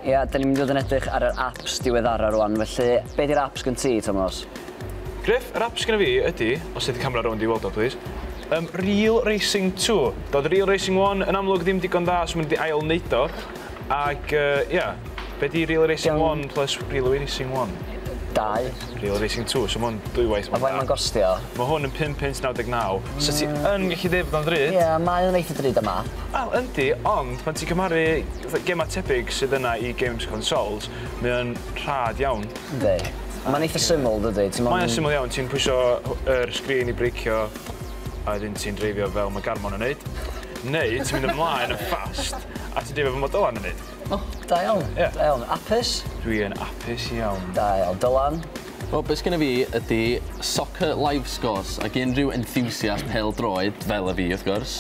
Ia, da ni'n mynd i fod yn edrych ar yr apps diweddara rwan, felly be di'r apps gen ti, Tomos? Griff, yr apps gen i fi ydy, os ydy camera rownd i weld o, please, um, Real Racing 2. Doedd Real Racing 1 yn amlwg ddim digon dda, so maen nhw wedi ail-wneud o. Ac yy ia, be di Relay Racing Iawn. One plus Relay Racing One? Dau. Relay Racing Two, so ma' hwn dwywaith A mwy faint da. ma'n gostio? Ma' hwn yn pum punt naw deg naw, so ti yn gallu deud bod o'n ddrud. Ie, mae o'n eitha drud am map. Wel, yndi, ond pan ti'n cymharu fatha gemau tebyg sydd yna i games consoles, mae o'n rhad iawn. Yndi. Mae'n eitha syml, dydi? Ti'm on'... Mae o'n syml iawn, ti'n pwysio yr sgrîn i breicio. A wedyn ti'n dreifio fel ma' Garmon yn neud. Neu ti'n mynd ymlaen yn fast a ti'n dreifio fel ma' Dylan yn neud. O, da iawn. Ie. Da iawn. Apus? Dwi yn apus iawn. Da iawn. Dylan? Wel, be' sgenna fi ydi soccer live scores ag unrhyw enthusiast pêl-droed, fel y fi wrth gwrs,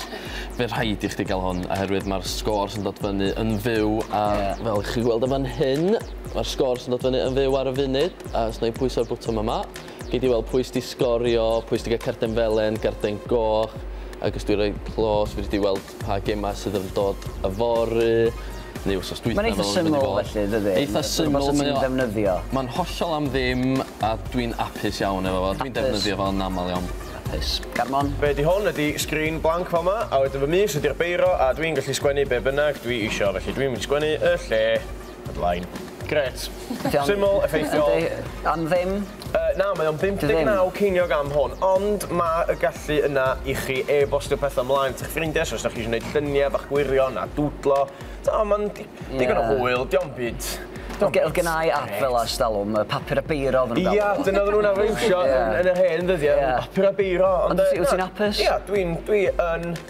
fe rhaid i chdi ga'l hwn oherwydd ma'r sgôrs yn dod fyny yn fyw a... Ie. ...fel chi gweld yn fan hyn ma'r sgôrs yn dod fyny yn fyw ar y funud a os 'nai pwyso'r bwtwm yma Gei di weld pwy sy 'di sgorio, pwy sy 'di cael carden felen, garden goch, ac os dwi'n rhoi clos, fedri di weld pa gemau sydd yn dod yfory, neu wsos dwytha. Mae'n eitha syml felly, dydi? Eitha syml. Rhywbeth ti'n ddefnyddio. Mae'n hollol am ddim, a dwi'n apus iawn efo fo. Dwi'n defnyddio fo yn aml iawn. Apus. Garmon? Be ydi hwn ydi sgrin blanc fel 'ma, a wedyn fy mis ydi'r beiro, a dwi'n gallu sgwennu be bynnag dwi isio, felly dwi'n mynd i sgwennu y lle Headline. Grêt. Syml, effeithiol. Yndi, am ddim. Yy na, mae o'n 59 ceiniog am hwn, ond ma' y gallu yna i chi e-bostio petha mlaen at 'ych ffrindie, so os 'dach chi isio neud llunie bach gwirion a dwdlo, t'mo' ma'n di- digon o hwyl, 'di o'm byd, 'di o'm byd grêt. O'dd gennai ap fela ers dalwm, yy papur a beiro oddan nw'n galw fo. Ia, dyna oddan nw'n arfar iwsio yn yn yr hen ddyddie, papur a beiro, ond yy... Ond wt ti wt ti'n apus? Ia, dwi'n dwi yn.